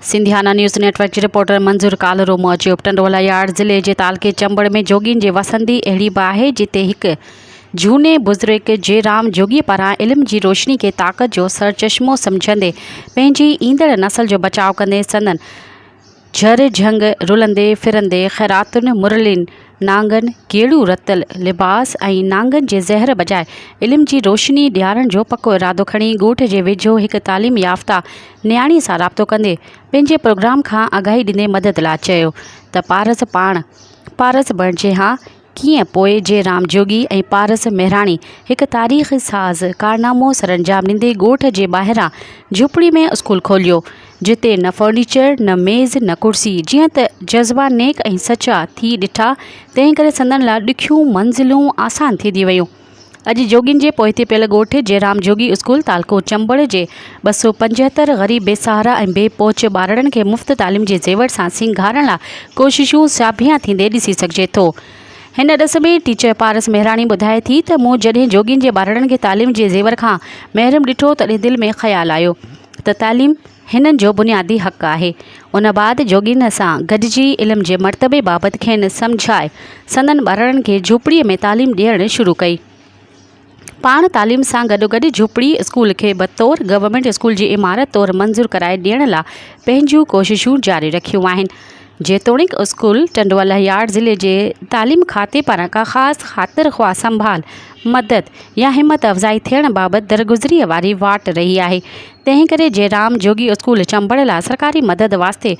Sindhiana news network جي reporter Manzoor Kalro موجب ٽنڊولا يارڊ ضلعي جي تعلقي چمبڙ ۾ جوڳين جي وسندي اهڙي به آهي جتي هڪ جهوني بزرگ جي رام جوڳي پاران علم جي روشني کي طاقت جو سرچشمو سمجهندي پنهنجي ايندڙ نسل جو بچاء ڪندي سندن جھر جھنگ رلندي ڦرندي خيراتن مرلين نانگن ڪيڙيون رتل لباس ۽ نانگن جي زهر بجاء علم جي روشني ڏيارڻ جو پڪو ارادو کڻي ڳوٺ جي ويجهو هڪ تعليم يافته نياڻي سان رابطو ڪندي پنهنجي پروگرام کان آگاهي ڏيندي مدد لاء چيو ته پارس پاڻ پارس بڻجي هان ڪيئن پوء جي رام جوڳي ۽ پارس مهراڻي هڪ تاريخ ساز ڪارنامو سرانجام ڏيندي ڳوٺ جي ٻاهران جهوپڙي ۾ اسڪول کوليو، جتي نه فرنيچر، نه ميز، نه ڪرسي، جيئن ته جذبا نيڪ ۽ سچا ٿي ڏٺا، تنهنڪري سندن لاء ڏکيون منزلون آسان ٿيندي ويون. اڄ جوڳين جي پوئتي پيل ڳوٺ جئرام جوڳي اسڪول تعلقو چمبڙ جي ٻه سؤ پنجهتر غريب بي سهارا ۽ بي پهچ ٻارڙن کي مفت تعليم جي زيور سان سينگارڻ لا ڪوششون سياڀيان ٿيندي ڏسي سگهجي ٿو. هن ڏس ۾ ٽيچر پارس مهراڻي ٻڌائي ٿي ته مون جڏهن جوڳين جي ٻارڙن کي تعليم جي زيور کان محروم ڏٺو تڏهن دل ۾ خيال آيو ته تعليم هنن جو بنيادي حق آهي. ان بعد جوڳين سان گڏجي علم جي مرتبي بابت کين سمجهائي، سندن ٻارڙن کي جهوپڙيء ۾ تعليم ڏيڻ شروع ڪئي. پاڻ تعليم سان گڏوگڏ جهوپڙي اسڪول کي بطور گورنمينٽ اسڪول جي عمارت طور منظور ڪرائي ڏيڻ لا پنهنجون ڪوششون جاري رکيون آهن. جيتوڻيڪ اسڪول ٽنڊو الهيار ضلعي جي تعليم کاتي پاران ڪا خاص خاطر خواهه سنڀال، مدد يا همت افزائي ٿيڻ بابت درگذريء واري واٽ رهي آهي، تنهن ڪري جي رام جوڳي اسڪول چمبڙ لاء سرڪاري مدد واسطي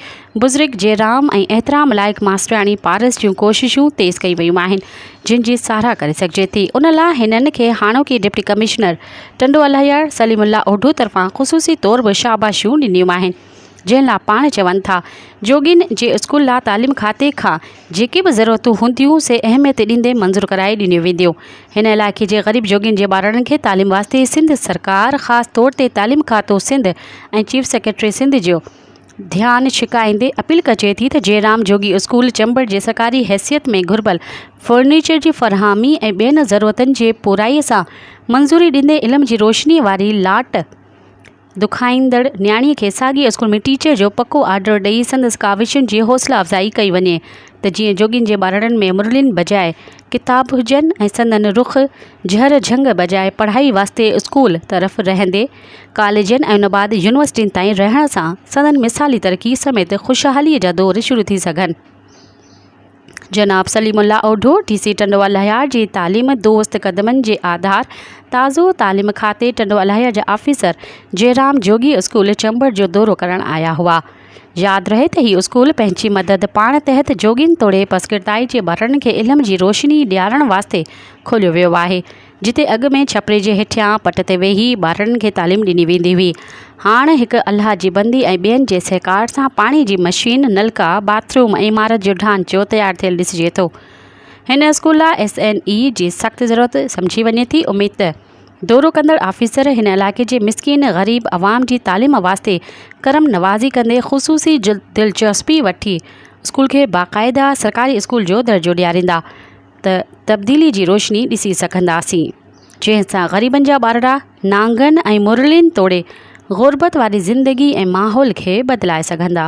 بزرگ جي رام ۽ احترام لائق ماسٽرياڻي پارس جون ڪوششون تيز ڪيون ويون آهن، جن جي ساراهه ڪري سگهجي ٿي. ان لاء هنن کي هاڻوڪي ڊپٽي ڪمشنر ٽنڊو الهيار سليم الله اوڍو طرفان خصوصي طور به شاباشيون ڏنيون آهن. جنهن لا پاڻ چون ٿا جوڳين جي اسڪول لا تعليم کاتي کان جيڪي به ضرورتون هونديون سي اهميت ڏيندي منظور ڪرائي ڏنيون وينديون هن علائقي جي غريب جوڳين جي ٻارڙن کي تعليم واسطي سنڌ سرڪار خاص طور تي تعليم کاتو سنڌ ۽ چيف سيڪريٽري سنڌ جو ڌيان ڇڪائيندي اپيل ڪجي ٿي ته جيرام جوڳي اسڪول چمبڙ جي سرڪاري حيثيت ۾ گهربل فرنيچر جي فراهمي ۽ ٻين ضرورتن جي پورائي سان منظوري ڏيندي علم جي روشني واري لاٽ دکائيندڙ نياڻي کي ساڳئي اسڪول ۾ ٽيچر جو پڪو آرڊر ڏئي سندس ڪاوشن جي حوصلا افزائي ڪئي وڃي ته جيئن جوڳين جي ٻارڙن ۾ مرلين بجاء ڪتاب هجن ۽ سندن رخ جهر جهنگ بجاء پڙهائي واسطي اسڪول طرف رهندي ڪاليجن ۽ ان بعد يونيورسٽين تائين رهڻ سان سندن مثالي ترقي سميت خوشحالي جا دور شروع ٿي سگهن. جناب سليم الله اوڍو، ڊي سي ٽنڊو الاهيار جي تعليم دوست قدمن جي آڌار تازو تعليم کاتي ٽنڊو الاهيار جا آفيسر جئرام جوڳي اسڪول چمبڙ جو دورو ڪرڻ آيا هئا. ياد رهي ته هي اسڪول پنهنجي مدد پاڻ تحت جوڳين توڙي پسڪردائي جي ٻارڙن کي علم جي روشني ڏيارڻ واسطي کوليو ويو آهي. جتي اڳ ۾ ڇپري جي هيٺيان پٽ تي ويهي ٻارڙن کي تعليم ڏني ويندي هئي، هاڻ هڪ الله جي بندي ۽ ٻين جي سهڪار سان پاڻي جي مشين، نلڪا، باٿ روم ۽ عمارت جو ڍانچو تيار ٿيل ڏسجي ٿو. هن اسڪول لاء ايس اين اي جي سخت ضرورت سمجهي وڃي ٿي، اميد ته دورو ڪندڙ آفيسر هن علائقي جي مسڪين غريب عوام جي تعليم واسطي ڪرم نوازي ڪندي خصوصي دلچسپي وٺي اسڪول کي باقاعده سرڪاري اسڪول جو درجو ڏياريندا. ته تبديلي جي روشني ڏسي سگهنداسين، جنهن سان غريبن جا ٻارڙا نانگن ۽ مرلين توڙي غربت واري زندگي ۽ ماحول کي بدلائي سگهندا.